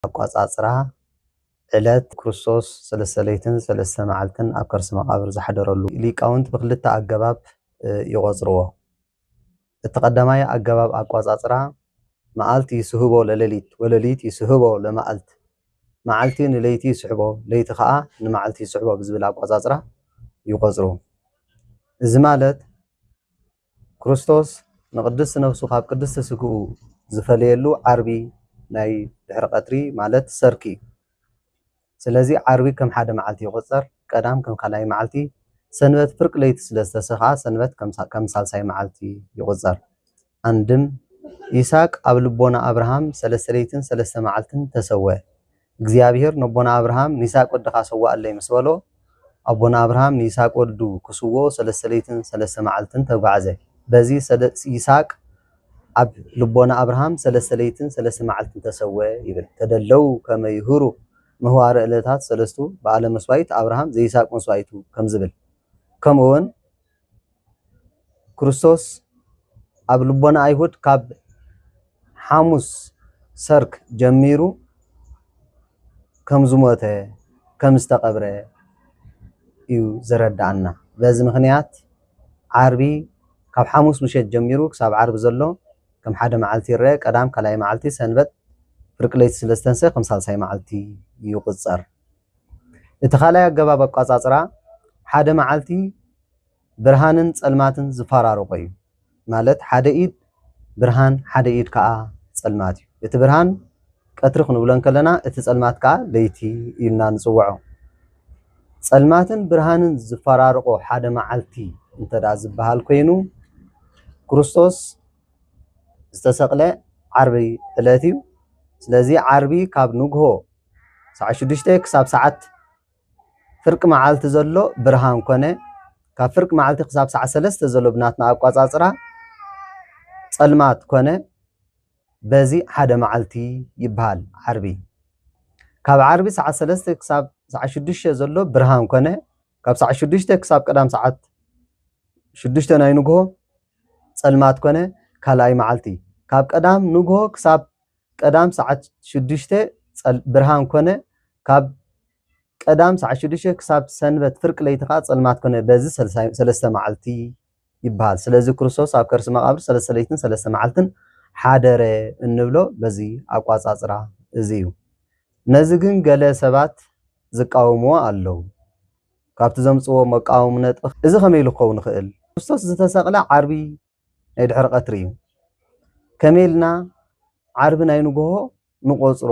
ኣቋጻጽራ ዕለት ክርስቶስ ሰለስተ ለይትን ሰለስተ መዓልትን ኣብ ከርሲ መቓብር ዝሓደረሉ ሊቃውንት ብክልተ ኣገባብ ይቖጽርዎ። እቲ ቀዳማይ ኣገባብ ኣቋጻጽራ መዓልት ይስህቦ ለለሊት ወለሊት ይስህቦ ለመዓልት መዓልቲ ንለይቲ ይስሕቦ ለይቲ ከኣ ንመዓልቲ ይስሕቦ ብዝብል ኣቋጻጽራ ይቖጽሩ። እዚ ማለት ክርስቶስ ንቅድስት ነፍሱ ካብ ቅድስት ስግኡ ዝፈለየሉ ዓርቢ ናይ ድሕሪ ቀትሪ ማለት ሰርክ እዩ። ስለዚ ዓርቢ ከም ሓደ መዓልቲ ይቁጸር፣ ቀዳም ከም ካልኣይ መዓልቲ፣ ሰንበት ፍርቂ ለይቲ ስለ ዝተሰክኣ ሰንበት ከም ሳልሳይ መዓልቲ ይቁጸር። ኣንድም። ይስሃቅ ኣብ ልቦና ኣብርሃም ሰለስተ ለይትን ሰለስተ መዓልትን ተሰወ። እግዚኣብሄር ነቦና ኣብርሃም ንይስሃቅ ወድኻ ሰዋኣለይ ምስ በሎ ኣቦና ኣብርሃም ንይስሃቅ ወዱ ክስውኦ ሰለስተ ለይትን ሰለስተ መዓልትን ተጓዕዘ በዚ ይስሃቅ ኣብ ልቦና ኣብርሃም ሰለስተ ለይትን ሰለስተ መዓልትን ተሰወ ይብል ተደለው ከመ ይሁሩ ምህዋረ እለታት ሰለስቱ በዓለ መስዋይት ኣብርሃም ዘይስሃቅ መስዋይቱ ከምዝብል ከምኡውን ክርስቶስ ኣብ ልቦና ኣይሁድ ካብ ሓሙስ ሰርክ ጀሚሩ ከም ዝሞተ ከም ዝተቐብረ እዩ ዘረድኣና። በዚ ምኽንያት ዓርቢ ካብ ሓሙስ ምሸት ጀሚሩ ክሳብ ዓርቢ ዘሎ ከም ሓደ መዓልቲ ይረአ፣ ቀዳም ካልኣይ መዓልቲ፣ ሰንበት ፍርቂ ለይቲ ስለ ዝተንስአ ከም ሳልሳይ መዓልቲ ይቑጸር። እቲ ካልኣይ ኣገባብ ኣቋጻጽራ ሓደ መዓልቲ ብርሃንን ጸልማትን ዝፋራረቆ እዩ ማለት ሓደ ኢድ ብርሃን ሓደ ኢድ ከኣ ጸልማት እዩ እቲ ብርሃን ቀትሪ ክንብሎ እንከለና እቲ ጸልማት ከዓ ለይቲ ኢልና ንጽውዖ። ጸልማትን ብርሃንን ዝፈራርቆ ሓደ መዓልቲ እንተዳ ዝበሃል ኮይኑ ክርስቶስ ዝተሰቕለ ዓርቢ ዕለት እዩ። ስለዚ ዓርቢ ካብ ንግሆ ሰዓት ሽዱሽተ ክሳብ ሰዓት ፍርቂ መዓልቲ ዘሎ ብርሃን ኮነ። ካብ ፍርቂ መዓልቲ ክሳብ ሰዓት ሰለስተ ዘሎ ብናትና ኣቋጻጽራ ጸልማት ኮነ። በዚ ሓደ መዓልቲ ይበሃል ዓርቢ። ካብ ዓርቢ ሰዓት ሰለስተ ክሳብ ሰዓት ሽዱሽተ ዘሎ ብርሃን ኮነ። ካብ ሰዓት ሽዱሽተ ክሳብ ቀዳም ሰዓት ሽዱሽተ ናይ ንግሆ ጸልማት ኮነ ካልኣይ መዓልቲ። ካብ ቀዳም ንግሆ ክሳብ ቀዳም ሰዓት ሽዱሽተ ብርሃን ኮነ፣ ካብ ቀዳም ሰዓት ሽዱሽተ ክሳብ ሰንበት ፍርቂ ለይቲ ከኣ ጸልማት ኮነ፣ በዚ ሰለስተ መዓልቲ ይብሃል። ስለዚ ክርስቶስ ኣብ ከርሲ መቓብር ሰለስተ ለይትን ሰለስተ መዓልትን ሓደረ እንብሎ በዚ ኣቋጻጽራ እዚ እዩ። ነዚ ግን ገለ ሰባት ዝቃወምዎ ኣለዉ። ካብቲ ዘምጽዎ መቃወሚ ነጥቢ እዚ ከመይ ኢሉ ክኸውን ይኽእል? ክርስቶስ ዝተሰቕለ ዓርቢ ናይ ድሕሪ ቀትሪ እዩ ከመይ ኢልና ዓርቢ ናይ ንጎሆ ንቆፅሮ።